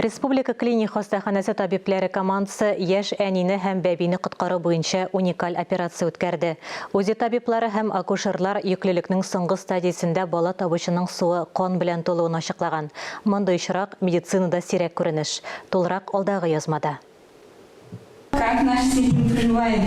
Республика клиник хастаханәсе табибләре командасы яшь әнине һәм бәбине коткару буенча уникаль операция үткәрде. УЗИ табиблары һәм акушерлар йөклелекнең соңгы стадиясендә бала табучының суы кан белән тулуын ачыклаган. Мондый очрак, медицинада сирәк күренеш. Тулырак алдагы язмада. Как наш сыйпым прыживает?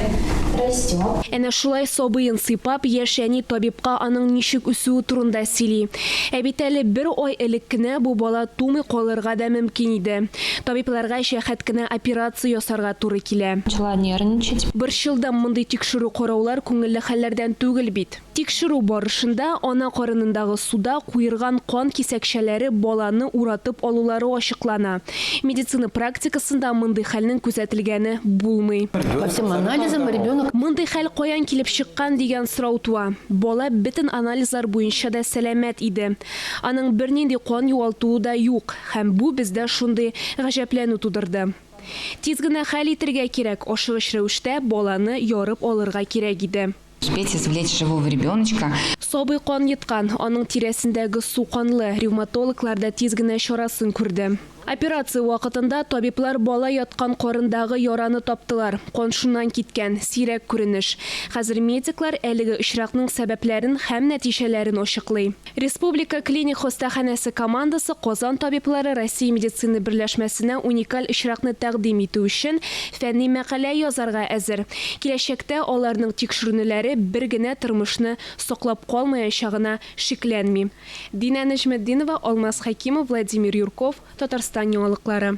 Растет. Әнә шулай сабыен сыйпап, яшь әни табибка аның ничек үсүе турында сөйли. Ә бит әле бер ай элек кенә бу бала тумый калырга да мөмкин иде. Табибларга җәһәт кенә операция ясарга туры килә. Начала нервничать. Борчылдым, мондый тикшерү-караулар күңелле хәлләрдән түгел бит. Тикшерү барышында ана карынындагы суда куерган кан кисәкчәләре баланы уратып алулары ачыклана. Медицина практикасында мондый хәлнең күзәтелгәне булмый. По всем анализам ребенок. Мондый хәл каян килеп чыккан дигән сорау туа. Бала бөтен анализлар буенча да сәламәт иде. Аның бернинди кан югалтуы да юк, һәм бу бездә шундый гаҗәпләнү тудырды. Тиз генә хәл итергә кирәк, ашыгыч рәвештә баланы ярып алырга кирәк иде. Успеть извлечь живого ребеночка. Сабый кан йоткан, аның тирәсендәге су канлы, ревматологлар да тиз генә чарасын күрде. Операция вакытында табиблар бала яткан карындагы яраны таптылар, кан шуннан киткән, сирәк күренеш. Хәзер медиклар әлеге очракның сәбәпләрен һәм нәтиҗәләрен ачыклый. Республика клиник хастаханәсе командасы Казан табиблары Россия медицина берләшмәсенә уникаль очракны тәкъдим итү өчен фәнни мәкалә язарга әзер. Киләчәктә аларның тикшерүнеләре бер генә тормышны саклап калмаячагына шикләнмим. Динә Нәҗметдинова, Алмаз Хәкимов, Владимир Юрков, Татарстан яңалыклары.